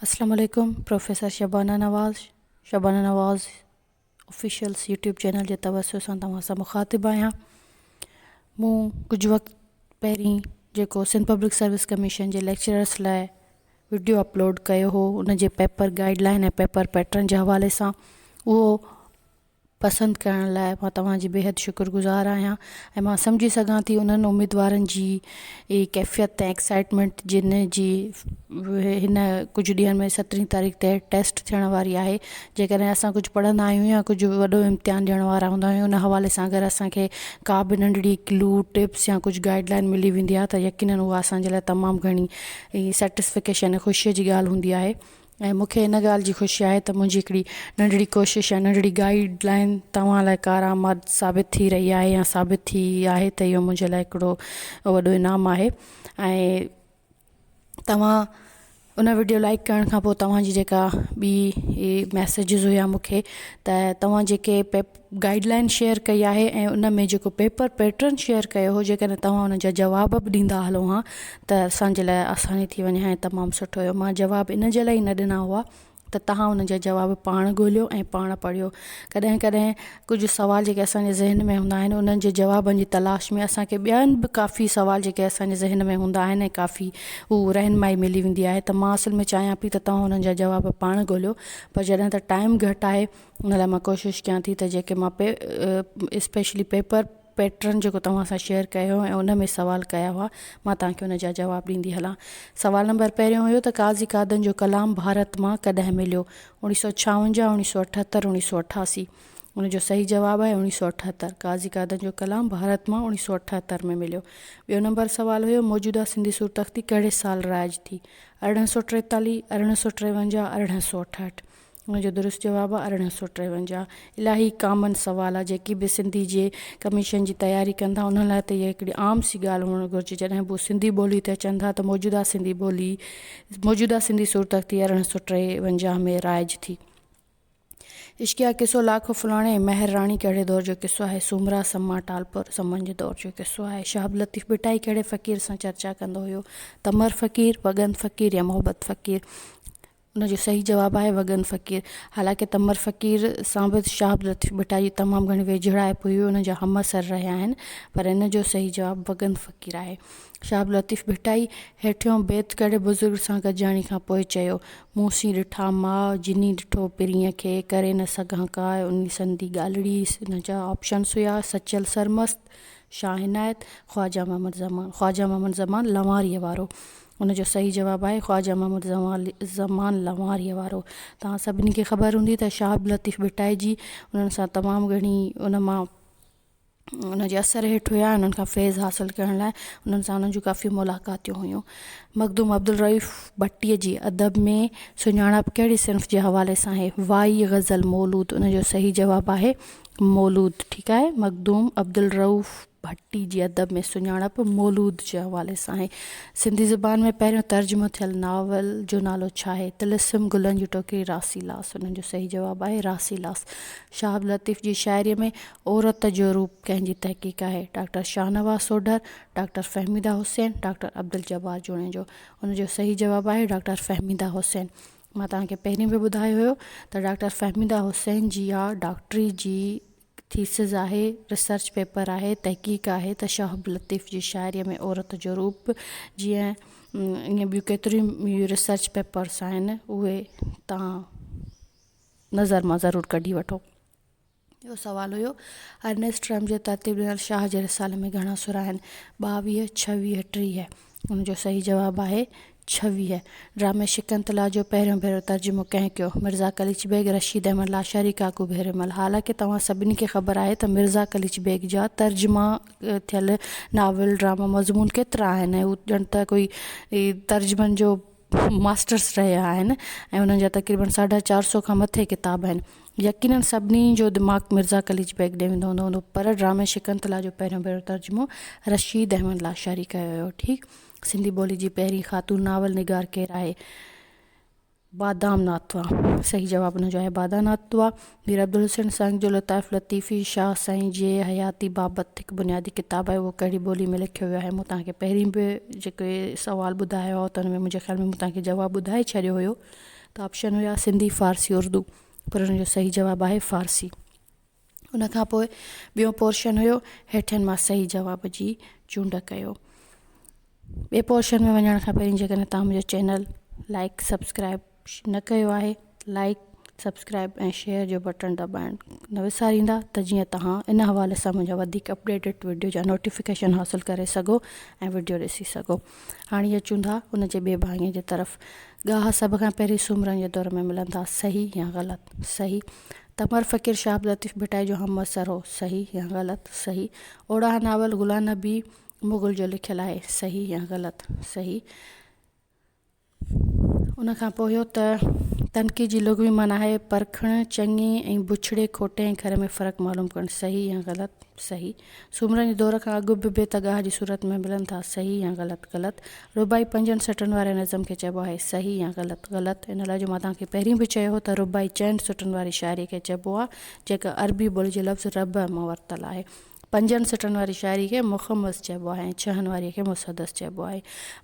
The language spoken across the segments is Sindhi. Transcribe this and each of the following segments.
السلام عليڪم professor Shabana Nawaz Shabana Nawaz officials YouTube channel جي توسط سان توهان سان مخاطب آهيان مون ڪجهه وقت پهرين جيڪو سنڌ پبلڪ سروس ڪميشن جي ليڪچررس لاء وڊيو اپلوڊ ڪيو هو ان جي paper guide line ۽ paper pattern جي حوالي سان اهو پسند ڪرڻ لاء مان توهان جي بيحد شڪر گذار آهيان ۽ مان سمجهي سگهان ٿي انهن اميدوارن جي ڪيفيت ۽ ايڪسائٽمينٽ جن جي هن ڪجهه ڏينهن ۾ سترهين تاريخ تي ٽيسٽ ٿيڻ واري آهي جيڪڏهن اسان ڪجهه پڙهندا آهيون يا ڪجهه وڏو امتحان ڏيڻ وارا هوندا آهيون ان حوالي سان اگر اسان کي ڪا به ننڍڙي ڪلو ٽپس يا ڪجهه گائيڊ لائين ملي ويندي آهي ته يقينن اها اسان جي لاء تمام گهڻي سيٽسفڪيشن ۽ خوشيء جي ڳالهه هوندي آهي ۽ مون کي ان ڳالهه جي خوشي آهي ته منهنجي هڪڙي ننڍڙي ڪوشش يا ننڍڙي گائيڊ لائين توهان لاء ڪارآمد ثابت ٿي رهي آهي يا ثابت ٿي آهي ته اهو منهنجي لاء هڪڙو وڏو انعام آهي ۽ توهان ان وڊيو لائڪ ڪرڻ کان پوء توهان جي جيڪا ٻي ميسيجز هيا مون کي ته توهان جيڪي پيپ گائيڊ لائين شيئر ڪئي آهي ۽ ان ۾ جيڪو پيپر پيٽرن شيئر ڪيو هو جيڪڏهن توهان ان جا جواب به ڏيندا هلو ها ته اسان جي لاء آساني ٿي وڃي ها ۽ تمام سٺو هيو مان جواب ان جي لاء نه ڏنا هئا ته توهان ان جا جواب پاڻ ڳوليو ۽ پاڻ پڙهيو ڪڏهن ڪڏهن ڪجهه سوال جيڪي اسان جي ذهن ۾ هوندا آهن انهن جي جوابن جي تلاش ۾ اسان کي ٻيا به ڪافي سوال جيڪي اسان جي ذهن ۾ هوندا آهن ۽ ڪافي هو رهنمائي ملي ويندي آهي ته مان اصل ۾ چاهيان پئي ته توهان انهن جا جواب پاڻ ڳوليو پر جڏهن ته ٽائيم گهٽ آهي ان لاء مان ڪوشش ڪيان ٿي ته جيڪي مان اسپيشلي پيپر پيٽرن جيڪو توهان سان شيئر ڪيو ۽ ان ۾ سوال ڪيا هئا مان توهان کي ان جا جواب ڏيندي هلان سوال نمبر پهريون هيو ته قاضي قادن جو ڪلام ڀارت مان ڪڏهن مليو اوڻيهه سؤ ڇاونجاهه اوڻيهه سؤ اٺهتر اوڻيهه سؤ اٺاسي ان جو صحيح جواب آهي اوڻيهه سؤ اٺهتر قاضي قادن جو ڪلام ڀارت مان اوڻيهه سؤ اٺهتر ۾ مليو ٻيو نمبر سوال هيو موجوده سنڌي سور تختي ڪهڙي سال رائج ٿي ارڙهن سؤ ٽيتاليهه ارڙهن سؤ ٽيونجاهه ارڙهن سؤ اٺهٺ ان جو درست جواب آهي ارڙهن سؤ ٽيونجاهه الاهي ڪامن سوال آهي جيڪي به سنڌي جي ڪميشن جي تياري ڪن ٿا انهن لاء ته اها هڪڙي عام سي ڳالهه هئڻ گهرجي جڏهن به هو سنڌي ٻولي تي اچن ٿا ته موجوده سنڌي ٻولي موجوده سنڌي صورتختي ارڙهن سؤ ٽيونجاهه ۾ رائج ٿي اشڪيا قصو لاکو فلاڻي مهر راڻي ڪهڙي دور جو قصو آهي سومرا سما ٽالپور سمن جي دور جو قصو آهي شهاب لطيف ٻٽائي ڪهڙي فقير سان چرچا ڪندو هيو تمر فقير وڳن فقير يا محبت فقير ان جو صحيح جواب آهي وڳن فقير. حالانڪ تمر فقير سان به شاهه عبداللطيف ڀٽائي جي تمام گهڻي ويجهڙائپ هئي، هو ان جا همعصر رهيا آهن، پر ان جو صحيح جواب وڳن فقير آهي. شاهه عبداللطيف ڀٽائي هيٺيون بيت ڪهڙي بزرگ سان گڏجاڻي کان پوء چيو، مون سين ڏٺا ماء، جني ڏٺو پرينء کي، ڪري نه سگهان ڪاء انهي سندي ڳالهڙي. ان جا آپشنس هيا، سچل سرمست، شاهه عنايت، خواجه محمد زمان. خواجه محمد زمان لنواريء وارو. ان جو صحيح جواب آهي خواجه محمد زمان لنواريء وارو. توهان سڀني کي خبر هوندي ته شاهه عبداللطيف ڀٽائجي انهن سان تمام گهڻي ان مان ان جي اثر هيٺ هيا ۽ انهن کان فيض حاصل ڪرڻ لاء انهن سان انهن جون ڪافي ملاقاتيون هيون. مخدوم عبدالرئوف ڀٽي جي ادب ۾ سڃاڻپ ڪهڙي صنف جي حوالي سان آهي؟ وائي غزل مولود ان جو صحيح جواب آهي مولود ٺيڪ آهي مخدوم عبدالرئوف. ڀٽي جي ادب ۾ سڃاڻپ مولود جي حوالي سان آهي. سنڌي زبان ۾ پهريون ترجمو ٿيل ناول جو نالو ڇا آهي؟ طلسم گلن جي ٽوڪري راسي لاس انهن جو صحيح جواب آهي راسي لاس. شاهه عبداللطيف جي شاعريء ۾ عورت جو روپ ڪنهن جي تحقيق آهي؟ Doctor Shahnawaz Sodhar, doctor Fahmida Hussain, doctor Abduljabbar Junejo. ان جو صحيح جواب آهي ڊاڪٽر فهميده حسين. مان توهان کي پهرين به ٻڌايو هيو ته ڊاڪٽر فهميده حسين جي اها ڊاڪٽري جي ٿيسز آهي، ريسرچ پيپر آهي، تحقيق آهي ته شهاب لطيف جي شاعريء ۾ عورت جو روپ جيئن ائين ٻيون ڪيتريون ئي ريسرچ پيپرس آهن اهي تان نظر مان ضرور ڪڍي وٺو. ٻيو سوال هيو ارنيسٽ رحمجي ترتيب ڏنل شاهه جي رسالن ۾ گهڻا سر آهن، ٻاويهه، ڇويهه، ٽيهه. ان جو صحيح جواب آهي ڇويهه. ڊرامي شڪنتلا جو پهريون ڀيرو ترجمو ڪنهن ڪيو؟ مرزا قليچ بيگ، رشيد احمد لاشاري، ڪاڪو ڀيرمل. حالانڪه توهان سڀني کي خبر آهي ته مرزا قليچ بيگ جا ترجما ٿيل ناول، ڊراما، مضمون ڪيترا آهن ۽ هو ڄڻ ته ڪوئي ترجمن جو ماسٽرس رهيا آهن ۽ انهن جا تقريبن ساڍا چار سؤ کان مٿي ڪتاب آهن. يقيناً سڀني جو دماغ مرزا قليچ بيگ ڏي ويندو هوندو هوندو پر ڊرامي شڪنتلا جو پهريون ڀيرو ترجمو رشيد احمد لاشاري ڪيو هيو. ٺيڪ سنڌي ٻولي جي پهرين خاتون ناول نگار ڪير آهي؟ بادا ناتوا صحيح جواب ان جو آهي بادا ناتوا. مير عبدالحسين سنگ جو لطائف لطيفي شاهه سائين جي حياتي بابت هڪ بنيادي ڪتاب آهي اهو ڪهڙي ٻولي ۾ لکيو ويو آهي مون توهان کي پهرين به جيڪي سوال ٻڌايا هئا ته ان ۾ منهنجي خيال ۾ مون توهان کي جواب ٻڌائي ڇڏيو هيو ته آپشن هيا سنڌي فارسي اردو پر ان جو صحيح جواب آهي فارسي ان کان پوء ٻيو پورشن هيو هيٺين مان صحيح جواب جي چونڊ ڪيو ٻئي پورشن ۾ وڃڻ کان پهرين جيڪڏهن توهان منهنجو چينل لائڪ سبسڪرائب نه ڪيو آهي لائيڪ سبسڪرائيب ۽ شيئر جو بٽڻ دٻائڻ نه وساريندا ته جيئن توهان ان حوالي سان منهنجا وڌيڪ اپڊيٽيڊ وڊيو جا نوٽيفڪيشن حاصل ڪري سگهو ۽ وڊيو ڏسي سگهو هاڻي اچون ٿا ان جي ٻي ڀاڱي جي طرف ڳاها سڀ کان پهرين سومرن جي دور ۾ ملن ٿا صحيح يا غلط صحيح تمر فقير شاهه عبداللطيف ڀٽائي جو همعصر هو صحيح يا غلط صحيح اوڙاهه ناول غلام نبي مغل جو لکيل آهي صحيح يا غلط صحيح ان کان پوء اهو ته تنقيد جي لغوي معنيٰ آهي پرکڻ، چڱي ۽ بڇڙي، کوٽي ۽ کري ۾ فرق معلوم ڪرڻ، صحيح يا غلط، صحيح، سومرن جي دور کان اڳ به بيت ڳاهه جي صورت ۾ ملن ٿا، صحيح يا غلط، غلط، رباعي پنجن سٽن واري نظم کي چئبو آهي، صحيح يا غلط، غلط، ان لاء جو مان توهان کي پهرين به چيو هو ته رباعي چئن سٽن واري شاعريء کي چئبو آهي، جيڪا عربي ٻوليء جي لفظ ربع مان ورتل آهي. پنجن سٽن واري شاعري کي مخمس چئبو آهي ۽ ڇهن واريء کي مسدس چئبو آهي.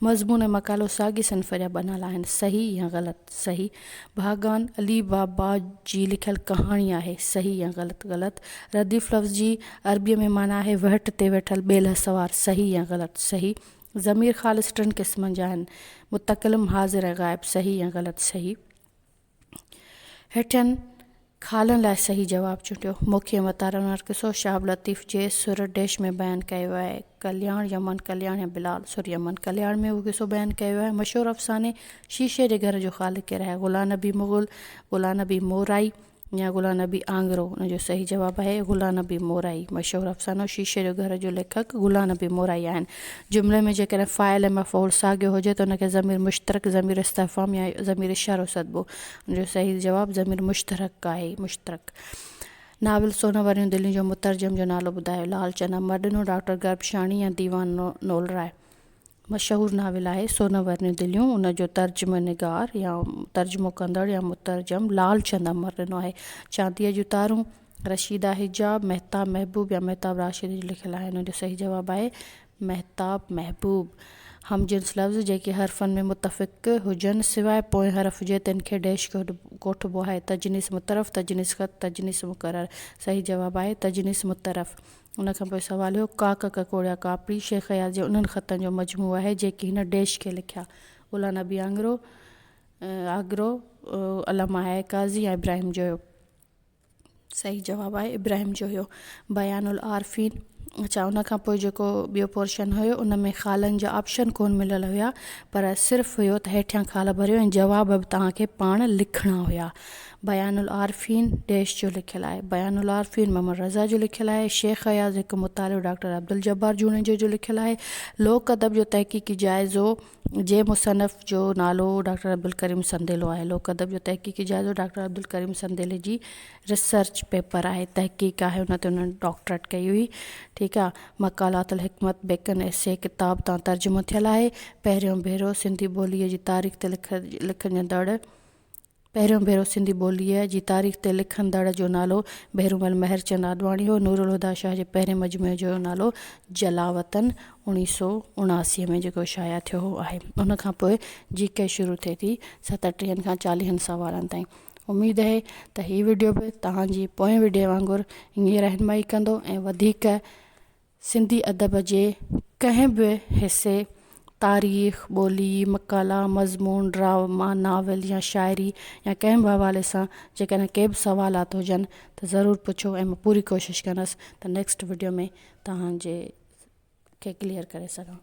مضمون ۽ مقالو ساڳي صنف جا بنال آهن. صحيح يا غلط؟ صحيح. ڀاڳان علي بابا جي لکيل ڪهاڻي آهي. صحيح يا غلط؟ غلط. رديف لفظ جي عربيء ۾ معنيٰ آهي وهٽ تي ويٺل ٻيلهه سوار. صحيح يا غلط؟ صحيح. ضمير خالص ٽن قسمن جا آهن، متڪلم، حاضر ۽ غائب. صحيح يا غلط؟ صحيح. هيٺين خالن لاء صحيح جواب چونڊيو. موکي متارن وارو قصو شهاب لطيف جي سر ڊيش ۾ بيان ڪيو آهي. ڪلياڻ يمن ڪلياڻ يا بلال سر يمن ڪلياڻ ۾ اهو قصو بيان ڪيو آهي. مشهور افساني شيشي جي گهر جو خالق ڪير آهي؟ غلام نبي مغل، غلام نبي مورائي يا غلام نبي آنگرو؟ ان جو صحيح جواب آهي غلام نبي مورائي. مشهور افسانو شيشي جو گهر جو ليکڪ غلام نبي مورائي آهن. جملي ۾ جيڪڏهن فاعل ۽ مفعول ساڳيو هجي ته ان کي ضمير مشترڪ، ضمير استفهام يا ضمير اشارو سڏبو. ان جو صحيح جواب ضمير مشترڪ آهي، مشترڪ. ناول سونهن وريون دليون جو مترجم جو نالو ٻڌايو. لعل چنا امر ڏنو ڊاڪٽر گربشاڻي يا ديوان نولرائي. مشهور ناول آهي سونهن وريون دليون، ان جو ترجمه نگار يا ترجمو ڪندڙ يا مترجم لعل چند امر ڏنو آهي. چانديء جون تارون. رشيده حجاب، مهتاب محبوب يا مهتاب راشد ايئن لکيل آهن ان جو صحيح جواب آهي مهتاب محبوب. هم جنس لفظ جيڪي حرفن ۾ متفق هجن سواء پوئين حرف جي تن کي ڊيش ڪوٺبو آهي تجنيس مترف تجنيس خط تجنيس مقرر صحيح جواب آهي تجنيس مترف ان کان پوء سوال هيو ڪاڪ ڪڪوڙيا ڪاپڙي شيخ اياز جي انهن خطن جو مجموعو آهي جيڪي هن ڊيش کي لکيا الا نبي آنگرو آگرو علامه حياء قاضي يا ابراهيم جويو صحيح جواب آهي ابراهيم جو هيو بيان العارفين اچا ان کان پوء جيڪو ٻيو پورشن هيو ان ۾ خالن جا آپشن ڪون مليل هيا پر صرف هيو ته هيٺيان خال ڀريو ۽ جواب به توهان کي پاڻ لکڻا هيا بيان العارفين ڊيش جو لکيل آهي بيان العارفين محمد رضا جو لکيل آهي شيخ اياز هڪ مطالعو ڊاڪٽر عبدالجبار جوڻيجو جو لکيل آهي لوڪ ادب جو تحقيقي جائزو جنهن مصنف جو نالو ڊاڪٽر عبدالڪريم سنديلو آهي. لوڪ ادب جو تحقيقي جائزو ڊاڪٽر عبدالڪريم سنديلي جي ريسرچ پيپر آهي، تحقيق آهي، ان تي هن ڊاڪٽريٽ ڪئي هئي. ٺيڪ آ. مقالات الحڪمت بيڪن ايسي ڪتاب تان ترجمو ٿيل آهي. پهريون ڀيرو سنڌي ٻوليء جي تاريخ تي لکجندڙ پهريون ڀيرو سنڌي ٻوليء جي تاريخ تي لکندڙ جو نالو ڀيرومل مهرچند آڏواڻي هو. نورالهديٰ شاهه جي پهرين مجموعي جو نالو جلاوطن اوڻيهه سؤ اڻاسي ۾ جيڪو شايع ٿيو هو آهي. ان کان پوء جي ڪي شروع ٿئي ٿي ستٽيهن کان چاليهن سوالن تائين. اميد اهي ته هي وڊيو به توهان جي پوئين وڊيو وانگر انهيء رهنمائي ڪندو ۽ وڌيڪ سنڌي ادب جي ڪنهن به حصي، تاريخ، ٻولي، مقالا، مضمون، ڊراما، ناول يا شاعري يا ڪنهن به حوالي سان جيڪڏهن ڪي به سوالات هجن ته ضرور پڇو ۽ مان پوري ڪوشش ڪندس ته نيڪسٽ وڊيو ۾ توهان جي کي ڪليئر ڪري سگهان.